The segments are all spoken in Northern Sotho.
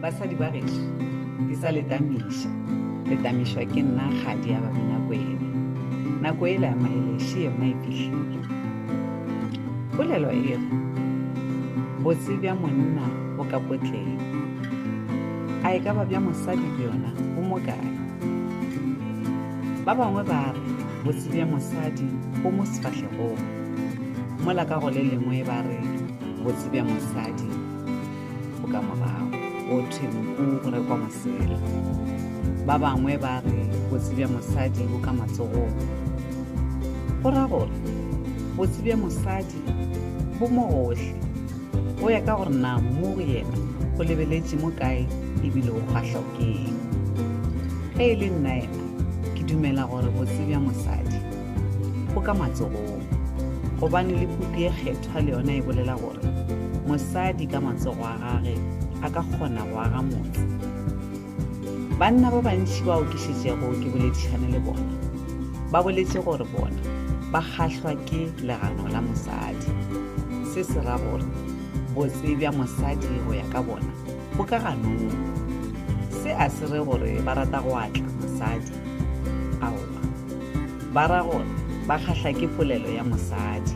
Basadi ba gešo, ke sa le tamiša. Le tamišwa ke nna kgadi ya Babinakwena. Nako ela ya maeleše yona e fihlile. Polelo e re, Botse bja monna bo ka potleng. A e ka ba bja mosadi bjona bo mo kae? Ba bangwe ba re botse bja mosadi bo mo sefahlegong, mola ka go le lengwe ba re botse bja mosadi bo ka morago go thwe nku go rekwa mosela ba bangwe ba re botse bja mosadi bo ka matsogong go ra gore botse bja mosadi bo mo gohle go ya ka gore na mo go yena go lebeletše mo kae ebile o kgwahlwa ke eng ge e le nna yena ke dumela gore botse bja mosadi bo ka matsogong gobane le puku ye kgetho Sepha le yona e bolela gore mosadi ka matsogo a gage a ka kgona go aga motse. Banna ba bantši bao ke šetšego ke boledišane le bona ba boletše gore bona ba kgahlwa ke legano la mosadi. Se se ra gore botse bja mosadi go ya ka bona bo ka ganong. Se a se re gore ba rata go atla mosadi. Aowa. Ba ra gore ba kgahla ke polelo ya mosadi.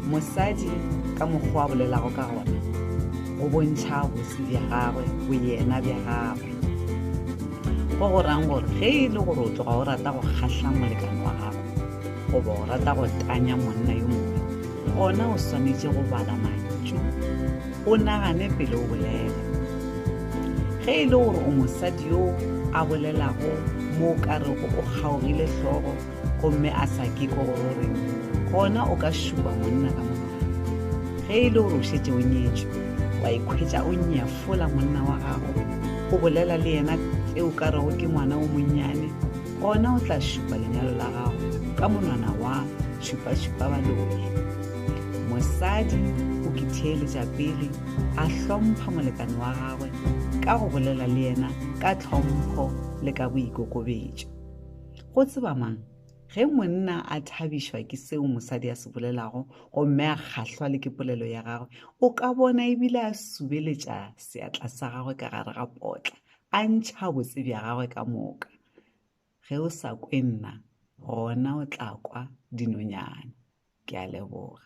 Mosadi ka mokgwa a bolelago ka gona go bontšha bosi bja gagwe, boyena bja gagwe. Go go rang gore ge e le gore o tloga o rata go kgahla molekane wa gago goba o rata go tanya monna yo mongwe, gona o swanetše go bala mantšu o nagane pele o bolela. Ge e le gore o mosadi yo a bolelago mo o ka rego o kgaogile hlogo gomme a sa ke ko gore gona o ka šupa monna ka monwana ge e le gore o šetse o nyetšwe wa ikhwetša o nyefola monna wa gago o bolela le yena tse o ka rego ke ngwana o monnyane gona o tla šupa lenyalo la gago ka monwana wa šupa-šupa baloe Mosadi o ke theeletša pele a hlompha molekane wa gagwe ka go bolela le yena ka tlhompho le ka boikokobetšo. Go tseba mang, ge monna a thabišwa ke seo mosadi a se bolelago gomme a kgahlwa le ke polelo ya gagwe, o ka bona e bile a subeletša seatla sa gagwe ka gare ga potla, a ntšha botse bja gagwe ka moka. ge o sa kwe nna gona o tla kwa dinonyana ke a leboga